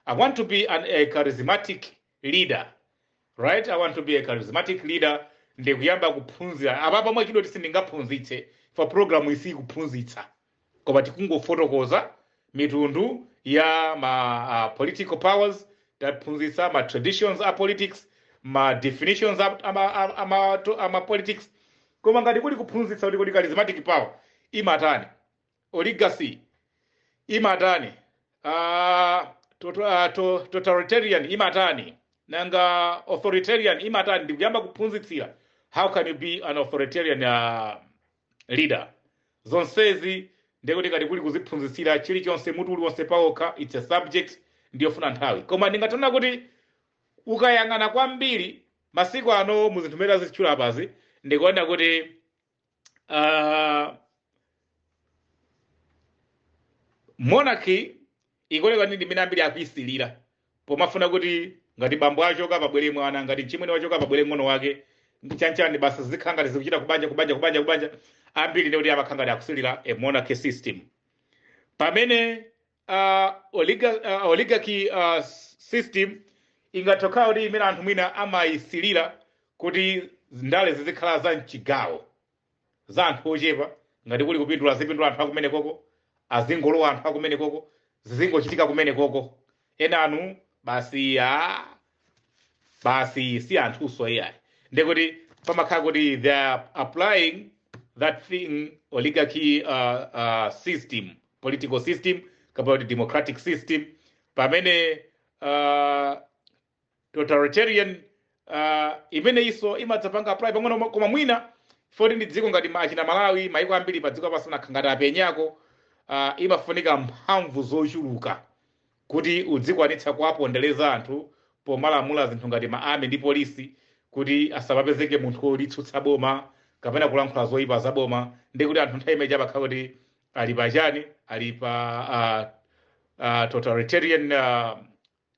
i want to be an, a charismatic leader right i want to be a charismatic leader ndikuyamba kuphunzira apapa mwachidule sindingaphunzitse foti program iyi si kuphunzitsa koma tikungofotokoza mitundu ya ma uh, political powers taphunzitsa ma traditions a politics ma definitions a, a, ma- a, a, ma- to- a ma politics koma ngati kuli kuphunzitsa kuti kodi charismatic power imatani oligarchy imatani uh, tot, uh, to, totalitarian imatani nanga authoritarian imatani ndikuyamba kuphunzitsira how can you be an authoritarian uh, leader zonsezi ndekuti ngati kuli kuziphunzitsira chilichonse mutu uliwonse pawokha its a subject ndiyofuna nthawi koma ndingati ona kuti ukayang'ana kwambiri masiku ano mu zinthu zimene ndazitchula apazi ndikuona kuti uh, monarchy ikuoneka ndi imene ambiri akuisilira pomafuna kuti ngati bambo achoka pabwere mwana ngati mchimwene wachoka pabwere mng'ono wake ndi chanchani basa zikhala ngati zikuchita kubanja kubanja kubanja kubanja ambiri ndekuti amakhala ngati akusilira a monarchy system pamene uh, oliga, uh, oligarchy uh, system ingathe kukhala kuti ndi imene anthu mwina amayisilira kuti ndale zizikhala za mchigawo za anthu ochepa ngati kuli kupindula zipindula anthu akomweko koko azingolowa anthu akomweko koko zizingochitika komweko koko enanu basi a basi si anthuso iyayi ndekuti pamakhala kuti they are applying that thing oligarchy uh, uh, system political system kapena kuti democratic system pamene uh, totalitarian uh, imeneyinso imadzapanga apply pang'ono mo- koma mwina foti ndi dziko ngati ma- achina malawi maiko ambiri pa dziko lapansi anakhala ngati apenyako uh, imafunika mphamvu zochuluka kuti udzikwanitsa kuwapondereza anthu pomalamula zinthu ngati ma army ndi polisi kuti asamapezeke munthu wolitsutsa boma kapena kulankhula zoyipa za boma ndi kuti anthu nthawi imene zapakhala kuti ali pa chani ali pa uh, uh, totalitarian uh,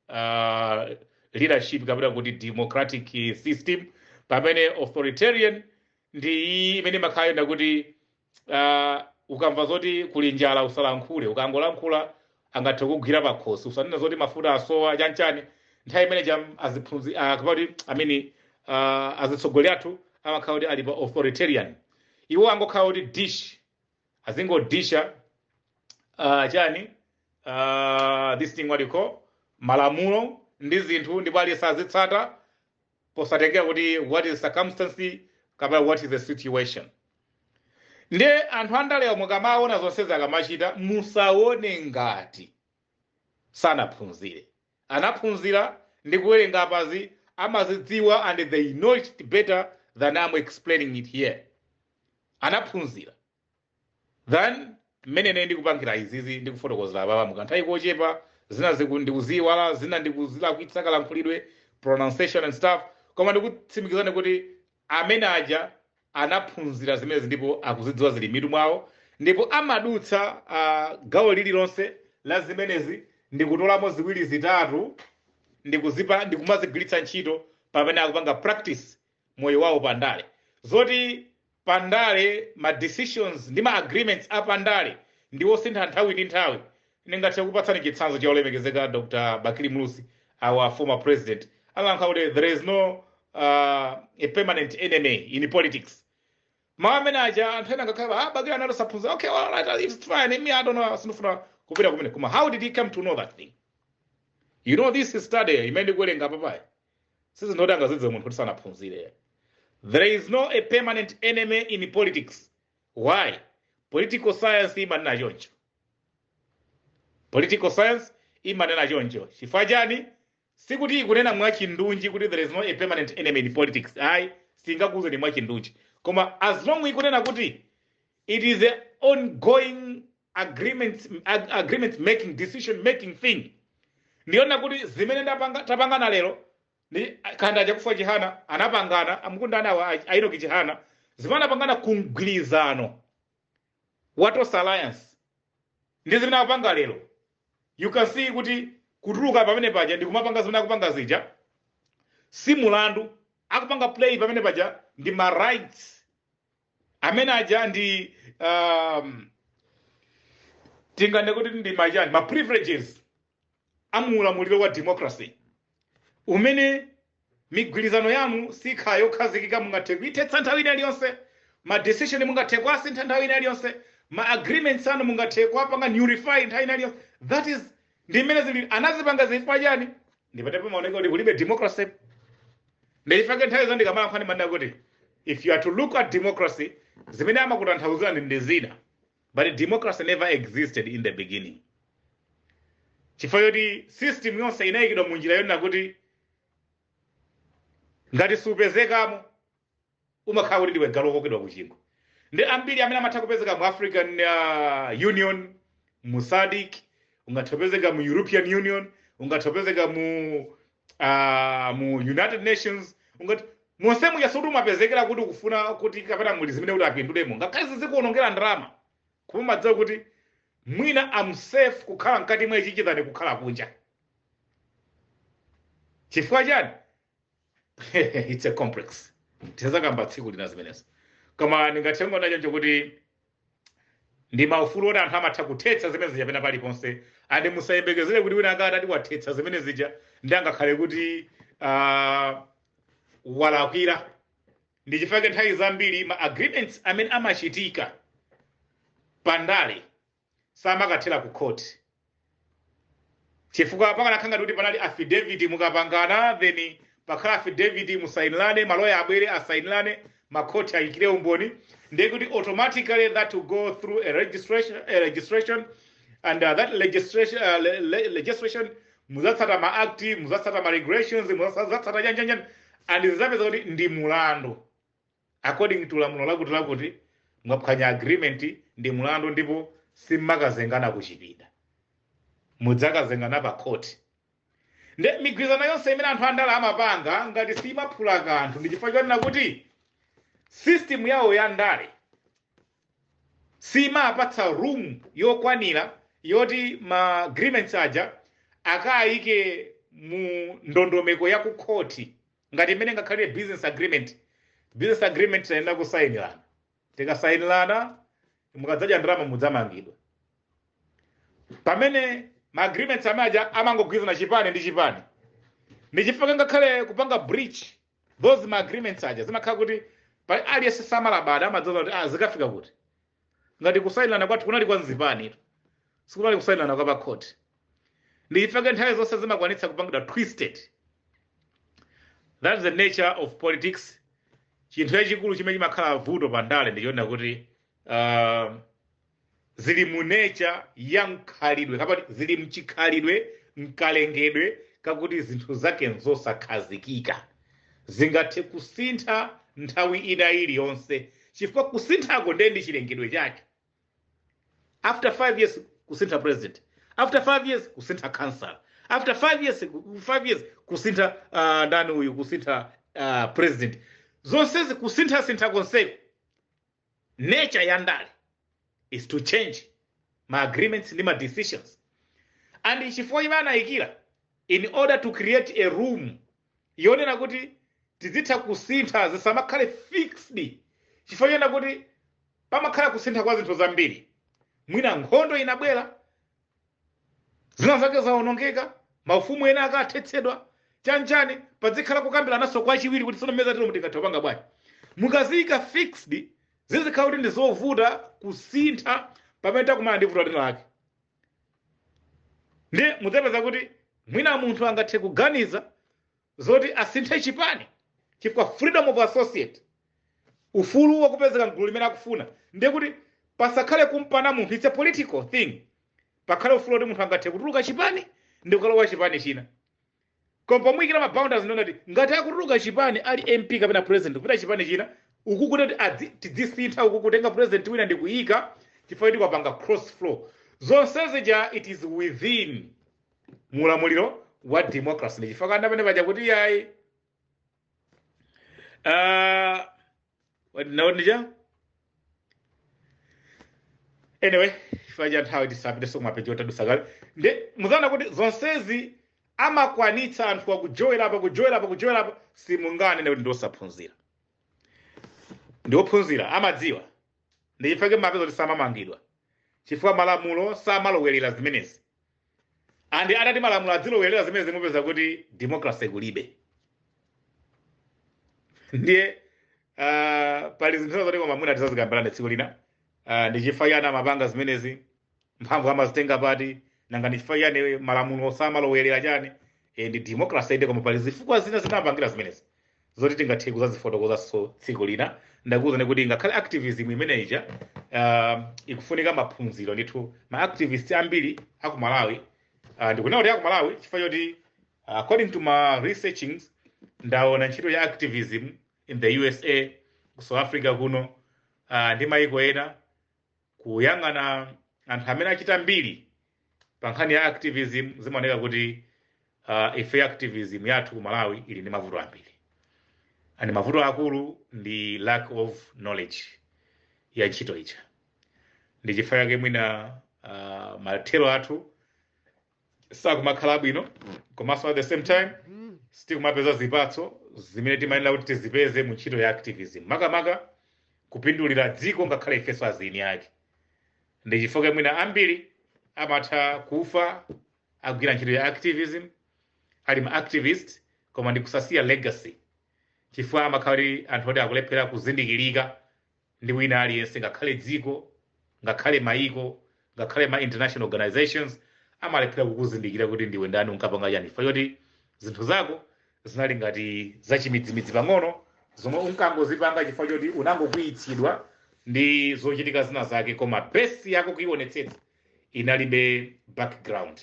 uh, leadership kapena kuti democratic system pamene authoritarian ndi iyi imene imakhala yenda kuti uh, ukamva zoti kuli njala usalankhule ukangolankhula angathe kugwira pakhosi usanena zoti mafuta asowa chanchani nthawi imene ija aziphunzi uh, kapati amene uh, azitsogoleri athu amakhala kuti ali pa authoritarian iwo angokhala kuti dish azingodisha uh, chani uh, this thing what you call malamulo ndi zinthu ndipo aliyense azitsata posatengera kuti what is circumstance kapena what is the situation ndiye anthu andalewa mukamaona zonsezi akamachita musaone ngati sanaphunzire anaphunzira ndi kuwerenga apazi amazidziwa and they know it better than I'm explaining it here anaphunzira than mmene ine ndikupangira izizi ndi kufotokozera apapa mu kanthawi kochepa. Zina ziku ndikuziiwala, zina ndikuzilakwitsa kalankhulidwe, pronunciation and stuff, koma ndikutsimikizani kuti amene aja anaphunzira zimenezi ndipo akuzidziwa zili m'mitu mwawo ndipo amadutsa ah, gawo lililonse la zimenezi ndikutolamo ziwiri zitatu ndikuzipa ndikumazigwiritsa ntchito pamene akupanga practice moyo wawo pa ndale. Zoti pa ndale ma decisions ndi ma agreements a pa ndale ndi osintha nthawi ndi nthawi, ndingathe kukupatsani chitsanzo cha olemekezeka Dr. Bakili Muluzi, our former president, amalankhula kuti there is no uh, a permanent enemy in politics. Mawu amene aja anthu ena nkukhala ah, Bakili anali osaphunzira. Okay, well, all right, it's fine. Me, I don't know, sindifuna kupita kumeneko. Koma how did he come to know that thing? You know this study imene ndikuwerenga apapayi. sizinthu zoti angazidziwe munthu woti sanaphunzire there is no a permanent enemy in politics why political science imanena choncho political science imanena choncho chifukwa chani sikuti ikunena mwachindunji kuti there is no a permanent enemy in politics ayi singakuuzeni mwachindunji koma as long ikunena kuti It is a ongoing agreements, ag agreement making decision making thing ndiye kunena kuti zimene ndapanga tapangana lero nchifukwa chake Chakufwa chihana anapangana amakumana awa a- a Enoch Chihana zimene anapangana kumgwirizano wa Tonse Alliance ndi zimene akupanga lero you can see kuti kutuluka pamene paja ndi kumapanga zimene akupanga zija si mulandu akupanga play pamene paja ndi ma rights amene aja ndi um, tingane kuti ndi machani ma privileges a mu ulamuliro wa democracy umene migwirizano yanu sikhala yokhazikika mungathe kuithetsa nthawi ina iliyonse ma decision mungathe kuasintha nthawi ina iliyonse ma agreements anu mungathe kuapanga nullify nthawi ina iliyonse that is ndi mmene zili anazipanga zifukwa chani ndipamene pamaoneka kuti kulibe democracy ndichifake nthawi zonse ndikamalankhula ndimanena kuti if you are to look at democracy zimene amakutanthauzira ndi ndi zina but democracy never existed in the beginning chifukwa choti system yonse inayikidwa mu njira yonena kuti ngati supezekamo umakhala kuti ndiwe galu wokokedwa ku chingwe ndi ambiri amene amatha kupezeka mu african uh, union mu SADC ungathe kupezeka mu european union ungathe kupezeka mu uh, mu united nations ungathe monse muja sikuti umapezekera kuti kufuna kuti kapena muli zimene kuti apindulemo ngakhale zizikuonongera ndalama koma umadziwa kuti mwina am safe kukhala mkati mwa ichichi than kukhala kunja chifukwa chani it's a complex tizakamba tsiku lina zimenezo koma ndingathe kunena choncho kuti ndi maufulu oti anthu amatha kuthetsa zimene zija pena paliponse ande musayembekezere kuti wina akati ati wathetsa zimene zija ndi angakhale kuti ah, walakwira ndi chifake nthawi zambiri ma agreements amene amachitika pandale samakathera ku court chifukwa pakanakhala ngati kuti panali affidavit mukapangana then pakhala affidavit musainilane maloya abwere asainirane makhoti ayikire umboni ndiye kuti automatically that will go through a registration, a registration and uh, that legislation, uh, le, le, legislation muzatsata ma act muzatsata ma regulations muzatsata chanichani and zizapeza kuti ndi mulandu according to lamulo lakuti lakuti mwaphwanya agreement ndi mulandu ndipo simmakazengana ku chipinda mudzakazengana pa court nde migwirizano yonse imene anthu andale amapanga ngati simaphula kanthu ndi chifukwa chonena kuti system yawo ya ndale simapatsa room yokwanira yoti ma agreements aja akayike mu ndondomeko ya ku khoti ngati mmene ingakhalire business agreement. Business agreement timayenera kusainirana, tikasainirana mukadzadya ndalama mudzamangidwa. Pamene ma agreements amene aja amangogwirizana chipani ndi chipani, ndi chifukwa ngakhale kupanga breach those ma agreements aja zimakhala kuti pali aliyense samalabada, amadziwa kuti ah, zikafika kuti ngati kusayinirana kwathu kunali kwa mzipani sikunali kusayinirana kwa pakhoti ndichifukwa chake nthawi zonse zimakwanitsa kupangidwa twisted that's the nature of politics chinthu chachikulu chimene chimakhala vuto pa ndale ndichonena kuti uh, zili mu nature ya mkhalidwe kapati zili mchikhalidwe mkalengedwe kakuti zinthu zake nzosakhazikika zingathe kusintha nthawi ina iliyonse chifukwa kusinthako ndiye ndi chilengedwe chake after five years kusintha president after five years kusintha council after five years ku- five years kusintha uh, ndani uyu kusintha uh, president zonsezi kusinthasintha konseko Nature ya ndale is to change ma agreements ndi ma decisions and chifukwa chimene amayikira in order to create a room yonena kuti tizitha kusintha zisamakhale fixed chifukwa chonena kuti pamakhala kusintha kwa zinthu zambiri mwina nkhondo inabwera zina zake zawonongeka maufumu ena akathetsedwa chanichani padzikhala kukambirananso kwachiwiri kuti tsono mmene zatelomu tingathe kupanga bwanji mukaziyika fixed zizikhala kuti ndi zovuta kusintha pamene takumana ndi vuto lina lake ndiye mudzapeza kuti mwina munthu angathe kuganiza zoti asinthe chipani chifukwa freedom of associate ufulu wakupezeka mgulu limene akufuna ndiye kuti pasakhale kumpana munthu it's a political thing pakhale ufulu woti munthu angathe kutuluka chipani ndi kukalowa chipani china koma pomuyikira maboundaries ndi kunena kuti ngati akutuluka chipani ali mp kapena president kupita chipani china uku kuti adzi- tidzisintha uku kutenga president wina ndi kuyika chifukwa kuti wapanga cross floor zonsezi ja it is within mu ulamuliro wa democracy ndi chifukwa chake ndanena paja kuti yayi ah, wati nawo ndija anyway chifukwa cha nthawi tisapiteso kumapeji otadusa kale ndiye muzaona kuti zonsezi amakwanitsa anthu akujowera apa kujowera apa kujowera apa simunganene kuti ndiosaphunzira ndiophunzira amadziwa ndi chifukwa chake mumapeza kuti samamangidwa chifukwa malamulo samalowerera zimenezi and atati malamulo adzilowerera zimenezi mupeza kuti democracy kulibe ndiye uh, pali zinthu zina zoti koma mwina tizazikambirana tsiku lina uh, ndi chifukwa chani amapanga zimenezi mphamvu amazitenga pati nanga ndi chifukwa chani malamulo samalowerera chani e, ndi democracy inde koma pali zifukwa zina zimene amapangira zimenezi zoti tingathe kuzazifotokozanso tsiku lina ndakuwuzani kuti ngakhale activism imene ija uh, ikufunika maphunziro ndithu ma activist ambiri aku malawi uh, ndikunena kuti aku malawi chifukwa choti uh, according to my researchings ndaona ntchito ya activism in the usa ku south africa kuno uh, ndi maiko ena kuyang'ana anthu amene achita mbiri pa nkhani ya activism zimaoneka kuti uh, ife activism yathu ku malawi ili ndi mavuto ambiri and mavuto aakulu ndi lack of knowledge ya ntchito ija ndi chifukwa chake mwina uh, mathero athu sakumakhala bwino komanso at the same time sitikumapeza zipatso zimene timayenera kuti tizipeze mu ntchito ya activism makamaka kupindulira dziko ngakhale ifenso azieni ake ndi chifukwa mwina ambiri amatha kufa agwira ntchito ya activism ali ma activist koma ndi kusasiya legacy chifukwa amakhala kuti anthu oti akulephera kuzindikirika ndi wina aliyense ngakhale dziko ngakhale maiko ngakhale ma international organizations amalephera kukuzindikira kuti ndiwe ndani unkapanga chani chifukwa choti zinthu zako zinali ngati zachimidzimidzi pang'ono zomwe unkangozipanga chifukwa choti unangokwiyitsidwa ndi zochitika zina zake koma besi yako kuionetsetsa inalibe background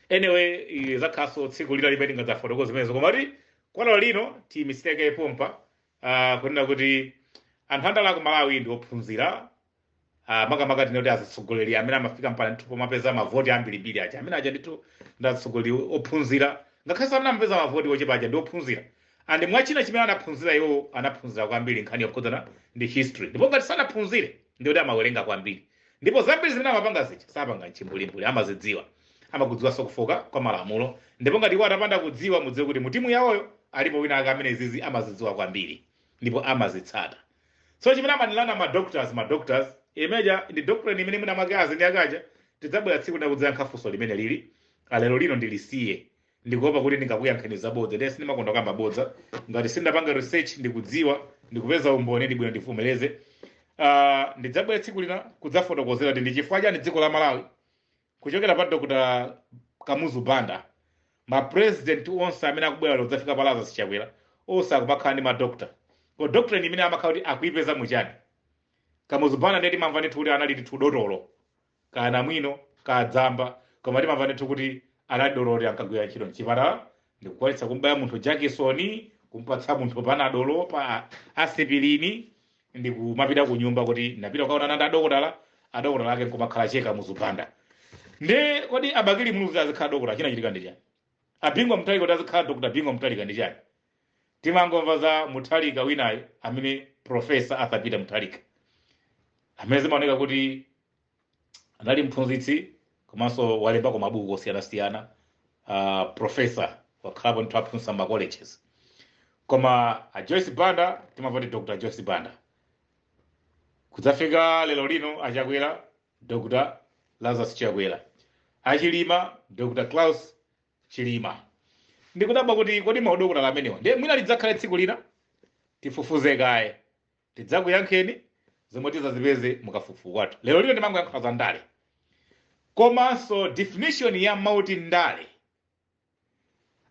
anyway eh, zakhalanso tsiku lina limene tingadzafotokoze zimenezo koma kuti kwalero lino tiimitse kaye pompa uh, kunena kuti anthu andale aku malawi ndi ophunzira uh, makamaka tinoti azitsogoleri amene amafika mpaka ndithu pomapeza mavoti ambirimbiri aja amene aja ndithu ndi atsogoleri ophunzira ngakhalenso amene amapeza mavoti ochepa aja ndi ophunzira and mwina china chimene anaphunzira iwo anaphunzira kwambiri ndi nkhani yokhudzana ndi history ndipo ngati sanaphunzire ndikuti amawerenga kwambiri ndipo zambiri zimene amapanga zija sapanga mchimbulimbuli amazidziwa amakudziwanso kufooka kwa malamulo ndipo ngati iwo atapanda kudziwa mudziwe kuti mutimu yawoyo alipo wina ake amene zizi amazidziwa kwambiri ndipo amazitsata so chimene amanenera ma doctorates ma doctorates amene aja ndi doctorate imene mwina mwake azieni ake aja tidzabwera tsiku lina kudzayankha funso limene ili la lero lino ndilisiye ndikuopa kuti ndingakuyankheni zabodza ndiye sindimakonda kukamba bodza ngati sindinapanga research ndikudziwa ndikupeza umboni ndi bwino ndivomereze Ah, ndidzabwera tsiku lina kudzafotokozera kuti ndi chifukwa chani dziko la malawi kuchokera pa dr kamuzu banda mapurezidenti onse amene akubwera lero kudzafika pa lazarus chakwera onse akumakhala ndi ma doctorate koma doctorate imene amakhala kuti akuipeza muchani kamuzu banda ndiye timamva ndithu kuti anali ndithu dotolo kaya namwino kaya mzamba koma timamva ndithu kuti anali dotolo ankagwira ntchito mchipatala ndikukwanitsa kumbaya munthu jakisoni kumpatsa munthu panadolo pa asipilini ndikumapita ku nyumba kuti ndapita kukaonana ndi adokotala adokotala ake nkumakhala che kamuzu banda nde kodi a bakili muluzi azikhala dokotala chinachitika ndi chani a bingu mutharika kuti azikhala dokotala bingu mutharika ndi chani Timangomva za Mutharika winayu amene Prof. Arthur Peter Mutharika amene zimaoneka kuti anali mphunzitsi komanso walembako mabuku osiyanasiyana uh, profesa wakhalapo ndithu aphunzitsa ma colleges koma a Joyce Banda timamva kuti Dr. Joyce Banda kudzafika lero lino a Chakwera Dr. Lazarus Chakwera a Chilima Dr. Klaus Chilima. Ndikudabwa kuti kodi maudokotala amenewa ndiye mwina lidzakhale tsiku lina? Tifufuze kaye. Tidzakuyankheni zomwe tizazipeze mukafukufuku wathu. Lero lino ndimangoyankhula za ndale. Komanso definition ya mawu oti ndale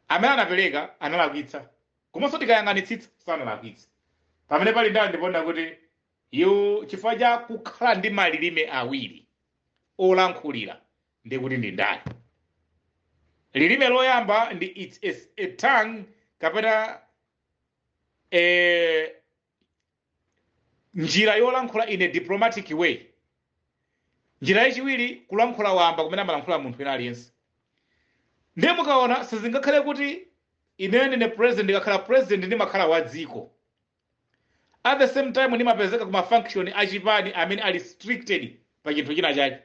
amene anapereka analakwitsa. Komanso tikayang'anitsitsa sanalakwitsa. Pamene pali ndale ndi pondakutiyu chifukwa cha kukhala ndi malilime awiri olankhulira ndiye kuti ndi ndale lilime loyamba ndi its a, a tongue kapena eh, njira yolankhula in a diplomatic way njira yachiwiri kulankhula wamba kumene amalankhula munthu wina aliyense ndiye mukaona sizingakhale kuti ineyo ndine president ndikakhala president ndimakhala wa dziko at the same time ndimapezeka ku mafunction a chipani amene ali restricted pa chinthu china chake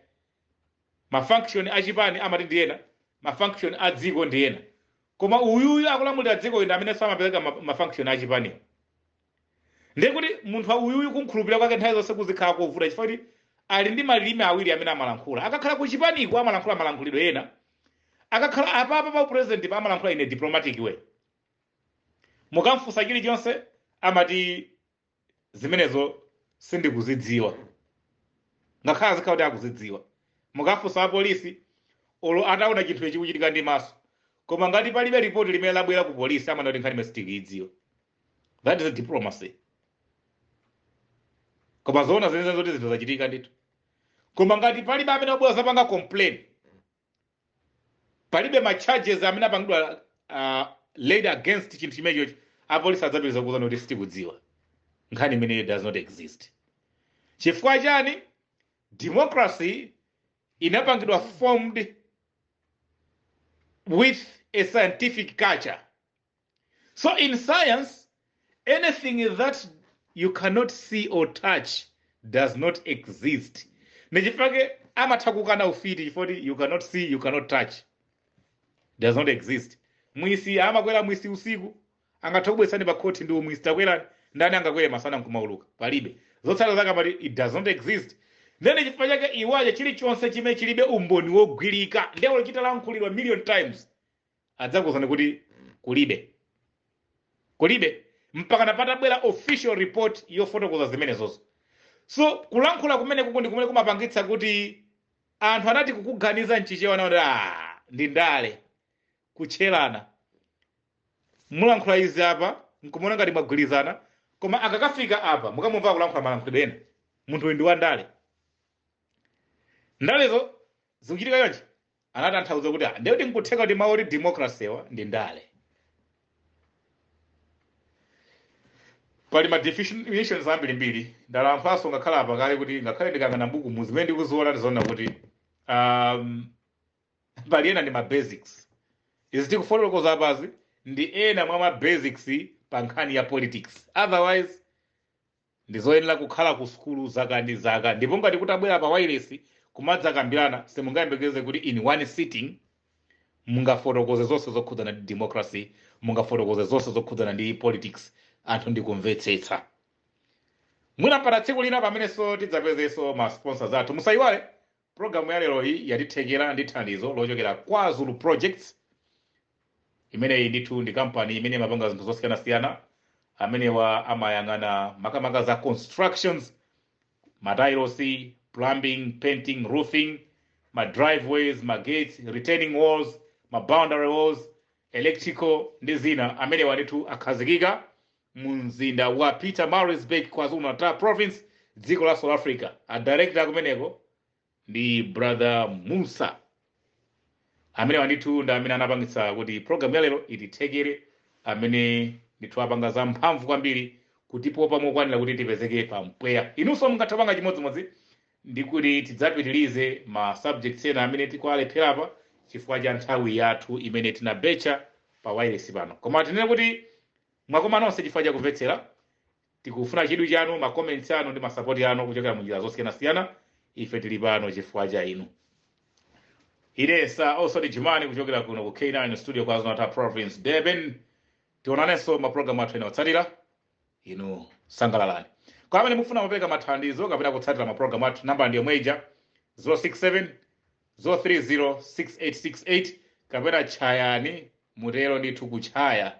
mafunction a chipani amati ndi ena mafunction a dziko ndi ena koma uyuyu akulamulira dziko ine amene samapezeka ma- mafunction a chipaniwo ndiye kuti munthu uyuyu kumkhulupirira kwake nthawi zonse kuzikhala kovuta chifukwa kuti ali ndi malilime awiri amene amalankhula akakhala ku chipaniko amalankhula malankhulidwe ena akakhala apapa pa upresident pa amalankhula in a diplomatic way mukamfunsa chilichonse amati zimenezo sindikuzidziwa ngakhale azikhala kuti akuzidziwa mukafunsa apolisi olo ataona chinthu ichi kuchitika ndi maso koma ngati palibe ripoti limene labwera ku polisi amanena kuti nkhani imeneyi sitikuidziwa that is diplomacy koma zoona zenizeni zoti zinthu zachitika ndithu koma ngati palibe amene wabwera zapanga complain palibe ma charges amene apangidwa uh, laid against chinthu chimenecho apolisi adzapitiriza kukuuzani kuti sitikudziwa nkhani imeneyo does not exist chifukwa chani democracy inapangidwa formed with a scientific culture So in science, anything that you cannot see or touch does not exist. Nchifukwa chake amatha kukana ufiti chifoti you cannot see, you cannot touch. Does not exist. Mfiti amakwera fisi usiku angatha kubweretsani pa khoti ndi fisi takwerani. Ndani angakwere masana nkumauluka palibe zotsala zake amati it does not exist ndiye chifukwa chake iwaje chilichonse chimene chilibe umboni wogwirika ndiye olo chitalankhulidwa million times adzakuuzani kuti kulibe kulibe mpaka napatabwera official report yofotokoza zimenezozo so kulankhula kumeneku ndi kumene kumapangitsa kuti anthu anati kukuganiza mchichewa nawo kuti "Ah, ndi ndale kutcherana mulankhula izi apa nkumaona ngati mwagwirizana koma akakafika apa mukamumva kulankhula malankhulidwe ena munthu uyu ndi wa ndale ndalezo zikuchitika yonje anatanthauza kuti ah, ndekuti nkutheka kuti mawu oti democracy-wa ndi ndale pali ma definitions ambirimbiri ndalankhulanso ngakhale apa kale kuti ngakhale ndikang'ana m'buku mu zimene ndikuziona ndizoona kuti um, pali ena ndi ma basics izi tikufotokoza apazi ndi ena mwa ma basics pa nkhani ya politics otherwise Ndizoyenera kukhala ku sukulu zaka ndi zaka ndipo ngati kutabwera pa wailesi kumadzakambirana simungayembekeze kuti in one sitting mungafotokoze zonse zokhudzana ndi democracy, mungafotokoze zonse zokhudzana ndi politics anthu ndikumvetsetsa. Mwina mpata tsiku lina pamenenso tidzapezenso ma sponsors athu. Musayiwale Program ya leroyi yatithekera ndi thandizo lochokera kwa Zulu Projects, imeneyi ndithu ndi kampani imene imapanga zinthu zosiyanasiyana, amenewa amayang'ana makamaka za constructions, matailosi, plumbing, painting, roofing, ma driveways, ma gates, retaining walls, ma boundary walls, electrical ndi zina, amenewa ndithu akhazikika Mu mzinda wa Pietermaritzburg, KwaZulu-Natal Province, dziko la South Africa, a director akumeneko ndi brother Moosa. Amenewa ndithu ndi amene anapangitsa kuti program ya lero itithekere, amene ndithu apanga za mphamvu kwambiri kutipopa mokwanira kuti tipezeke pa mpweya. Inunso mungathe kupanga chimodzimodzi ndikuti tidzapitirize ma subjects ena amene tikuwalephera apa chifukwa cha nthawi yathu imene tinabetcha pa wailesi pano. Koma tinene kuti Mwakoma nonse chifukwa chakumvetsera. Tikufuna chidwi chanu, ma comments anu ndi ma support anu kuchokera munjira zosiyanasiyana. Ife tili pano chifukwa cha inu. Ine Sir Oswald Jumani kuchokera kuno ku K9 studio KwaZulu-Natal Province Durban. Tionanenso ma program athu ena otsatira. Inu sangalalani. Kwa amene mukufuna kupereka mathandizo kapena kutsatira ma program athu, nambala ndi yomwe ija 067 030 6868 kapena tchayani mutero ndithu kutchaya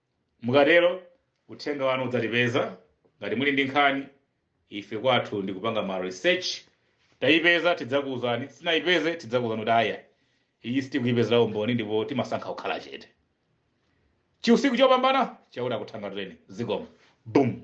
Mukatero, uthenga wanu udzatipeza. Ngati muli ndi nkhani, ife kwathu ndi kupanga ma research. Tayipeza tidzakuuzani, sitinayipeze tidzakuuzani kuti ayi iyi sitikuyipezera umboni ndipo timasankha kukhala chete. Chiusiku chopambana, Chauta akuthangatireni. Zikomo. Boom.